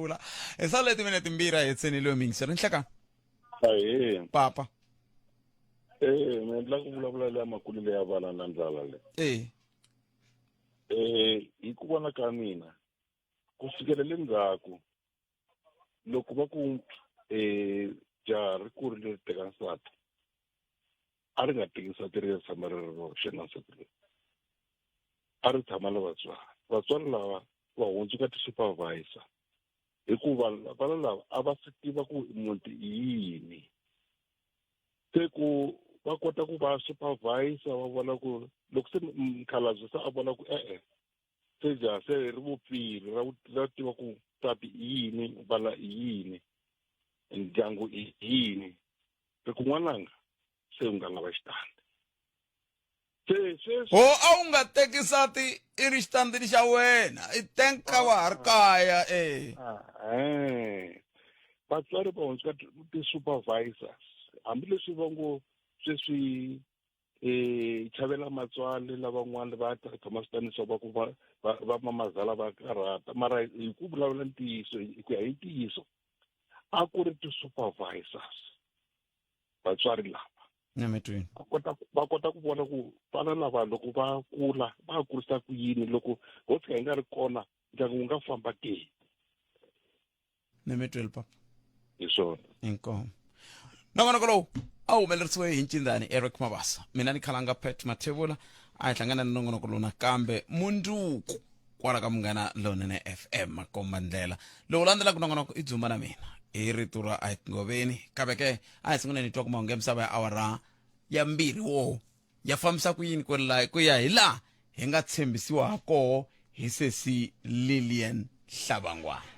vula hi sala le timinete mbirhi a hetseni leyo mingisi ri nhleka ahee papa ee mi endla ku vulavula leya makulu leya vana na ndlala le ee eh hi ku vona ka mina ku sukela le ndzhaku loko va ku eh jaha ri kurile ri teka nsati a ri nga teki nsati ri ya tshama ri ri roxe na nsati loyi a ri tshama na vatswari vatswari lava va hundzuka ti-supervisor hikuva vana lava a va swi tiva ku muti i yini se ku va kota ku va supervisor va vona ku loko se mkhalabye se a vona ku e-e se ja se ri vupfile ra ra tiva ku nsati i yini vana i yini ndyangu i yini se ku n'wananga se u nga lava xitandi se sweswi ho a wu nga teki nsati i ri xitandini xa wena i tenka wa ha ri kaya e ehe vatswari va hundzuka ti-supervisors hambileswi va ngo sweswi um chavela matswali lavan'wana va tirhisa maswitanisa va ku va va mamazala va karhata mara hi ku vulavula ntiyiso hi ku ya hi ntiyiso a ku ri ti-supervisors vatswari lava nyametweni va kota va kota ku vona ku vana lava loko va kula va kurisa ku yini loko ho tsika hi nga ri kona ndyangu wu nga famba ke memetweli papa hi swona inkomo nongonoko lowu a wu humelerisiwe hi ncindani eric mabasa mina ni khalanga pet mathevula a hi hlangana ni nongonoko lowu nakambe munduku kwala ka munghana lonene fm makomba ndlela lowu landzelaka nongonoko i dzumba na mina hi rito ra a hi tingoveni kambe ke a hi sunguleni hi twa ku mahungu ya misava ya awara ya mbirhi wo ya fambisa ku yini ku la ku ya hi laha hi nga tshembisiwa ha koho hi sesi lilian hlabangwana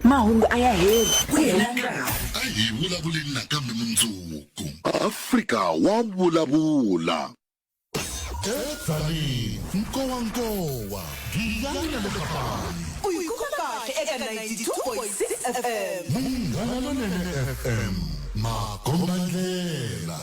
mahungu a ya heli ku hela nkarhi a hi vulavuleni nakambe mundzuku afrika wa vulavula edzaleni nkowankowa giyani na le kapani u yi kuma kahle eka 92.6 fm munghana lonene fm makombandlela